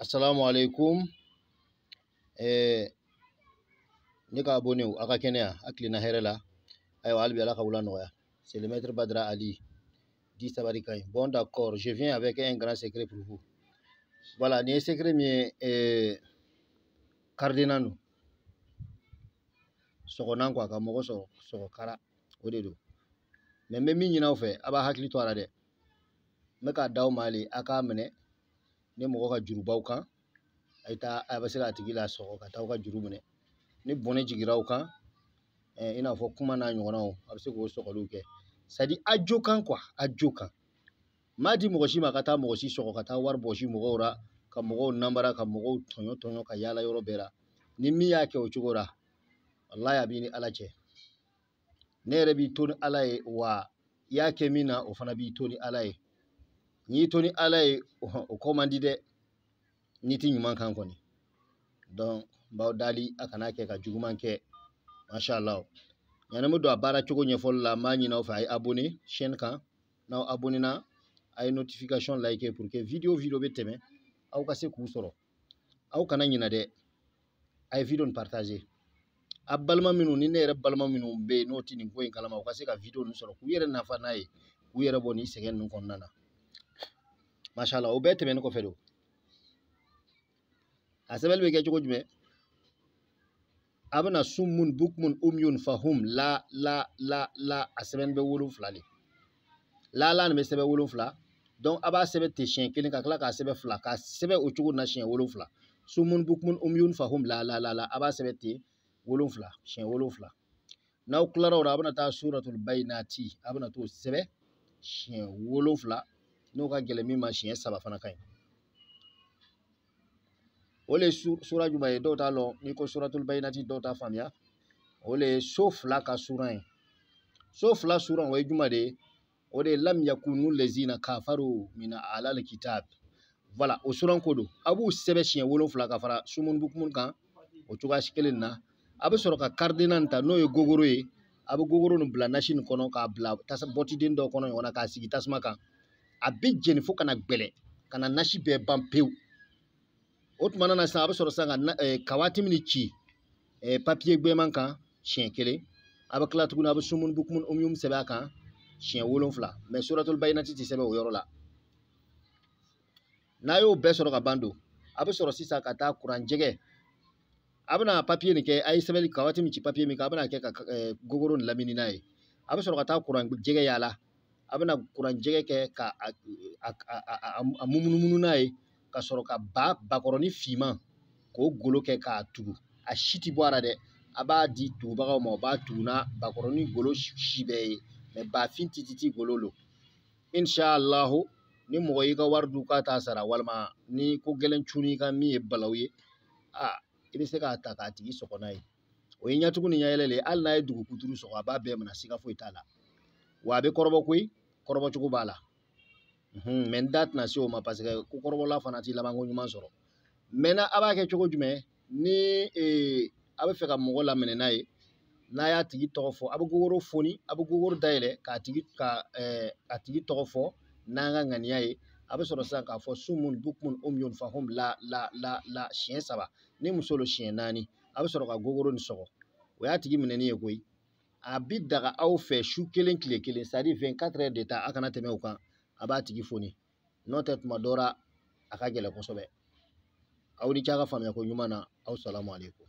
Assalamu alaikum eh, ne ka abonnéw a ka kɛnɛya a tilenna hɛrɛ la ayiwa hali bi ala ka wula nɔgɔya c'est le maître Badra Ali dit Sabari ka ɲi bon d'accord je viens avec un grand secret pour vous voilà nin ye secret min ye eh, cadenas don sɔgɔnan quoi ka mɔgɔ sɔgɔ kara o de don mais n bɛ min ɲini aw fɛ a b'a hakili to a la dɛ n bɛ k'a d'aw ma le a k'a minɛ ni mɔgɔ ka juru b'aw kan a ye taa a bɛ se k'a tigi lasɔgɔ ka taa aw ka juru minɛ ni bɔnɛ jigira aw kan i n'a fɔ kuma n'a ɲɔgɔnnaw a bɛ se k'o sɔgɔliw kɛ sadi a jo kan quoi a jo kan n m'a di mɔgɔ si ma ka taa mɔgɔ si sɔgɔ ka taa wari bɔsi mɔgɔw la ka mɔgɔw nambara ka mɔgɔw tɔɲɔ tɔɲɔ ka yaala yɔrɔ bɛɛ la ni min y'a kɛ o cogo la walayi a b'i ni ala cɛ ne yɛrɛ b'i to ni ala ye wa i y'a kɛ min na o fana b'i to ni ala ye n'i y'i to ni ala ye o ko man di dɛ n'i tɛ ɲuman kan kɔni donc n b'aw deli a kana kɛ ka juguman kɛ masha allah yanni n bɛ don a baara cogo ɲɛfɔli la n b'a ɲini aw fɛ a ye abonné chaîne kan n'aw abonné na a ye notification like pour que video o video bɛ tɛmɛ aw ka se k'u sɔrɔ aw kana ɲinɛ dɛ a ye video nin partage a balima minnu ni ne yɛrɛ balima minnu bɛ yen n'o tɛ nin ko in kalama u ka se ka video ninnu sɔrɔ k'u yɛrɛ nafa n'a ye k'u yɛrɛ bɔ nin sɛgɛn ninnu kɔnɔna na mashala o bɛɛ tɛmɛnen kɔfɛ donc a sɛbɛnni bɛ kɛ cogo jumɛn a bɛna sumun bukmun umyun fahum la la la la a sɛbɛnni bɛ wolonfila le la la nin bɛ sɛbɛn wolonfila donc a b'a sɛbɛn ten siɲɛ kelen ka tila k'a sɛbɛn fila k'a sɛbɛn o cogo na siɲɛ wolonfila sumun bukmun umyun fahum la la la la a b'a sɛbɛn ten wolonfila siɲɛ wolonfila n'aw tilara o la a bɛna taa suratul bayinati a bɛna t'o sɛbɛn siɲɛ wolonfila n'o ka gɛlɛn min ma siɲɛ saba fana ka ɲi o le ye sura jumɛn ye dɔw t'a lɔn n'i ko suratul bayinati dɔw t'a faamuya o le ye so fila ka sura ye so fila sura o ye jumɛn de ye o de ye lam yakunu lezina kafaru min alal kitab voilà o sura ko don a b'u sɛbɛn siɲɛ wolonfila ka fara sumuni bukumun kan o cogoya si kelen na a bɛ sɔrɔ ka cadenas nin ta n'o ye gogoro ye a bɛ gogoro nin bila nasi nin kɔnɔ k'a bila tasa bɔtiden dɔ kɔnɔ ɲɔgɔn na k'a sigi tasuma kan a bɛ jeni fo ka na gbɛlɛ ka na nasi bɛɛ ban pewu o tuma na sisan a bɛ sɔrɔ sisan ka eh, kawatimi nin ci eh, papiye gbɛman kan siɲɛ kelen a bɛ tila tuguni a bɛ sumuni bukumun umyum sɛbɛn a kan siɲɛ wolonfila mais suratul bayinati tɛ sɛbɛn o yɔrɔ la n'a y'o bɛɛ sɔrɔ ka ban don a bɛ sɔrɔ sisan ka taa kuran jɛgɛ a bɛna papiye nin kɛ a ye sɛbɛnni kawatimi ci papiye min kan a bɛna kɛ ka eh, gogoro nin lamini n'a ye a bɛ sɔrɔ ka taa kuran jɛgɛ yaala a bɛna kuran jɛgɛ kɛ ka a mumunumunu n'a ye ka sɔrɔ ka ba bakɔrɔni finman k'o golo kɛ k'a tugu a si tɛ bɔ a ra dɛ a b'a di tugubagaw ma o b'a tugu n'a bakɔrɔni golo si bɛɛ ye mɛ bafin tititi golo lo inshallahu ni mɔgɔ y'i ka wari dun k'a t'a sara walima ni ko gɛlɛn cunn'i kan min ye balaw ye a i bɛ se k'a ta k'a tigi sɔgɔ n'a ye o ye ɲɛtugu ni ɲɛyɛlɛ le ye hali n'a ye dugu kuturu sɔgɔ a b'a bɛɛ minɛ siga foyi t'a la wa a bɛ kɔrɔbɔ koyi kɔrɔbɔ cogo b'a la mɛ n da tɛna se o ma paseke ko kɔrɔbɔla fana ti labanko ɲuman sɔrɔ maintenant a b'a kɛ cogo jumɛn ni ee a bɛ fɛ ka mɔgɔ laminɛ n'a ye n'a y'a tigi tɔgɔ fɔ a bɛ gogoro foni a bɛ gogoro dayɛlɛ k'a tigi ka ɛɛ a tigi tɔgɔ fɔ n'an ka ŋaniya ye a bɛ sɔrɔ sisan k'a fɔ sumun bukmun umyun fahum la la la la siɲɛ saba ni muso lo siɲɛ naani a bɛ sɔrɔ ka gogoro nin sɔgɔ o y'a tigi minɛni ye koyi a bi daga aw fɛ su kelen kile kelen sadi vingt-quatre heures de temps a kana tɛmɛ o kan a b'a tigi foni n'o tɛ tuma dɔ ra a ka gɛlɛn kosɛbɛ aw ni ce a ka faamuyako ɲuman na aw salamu aleykum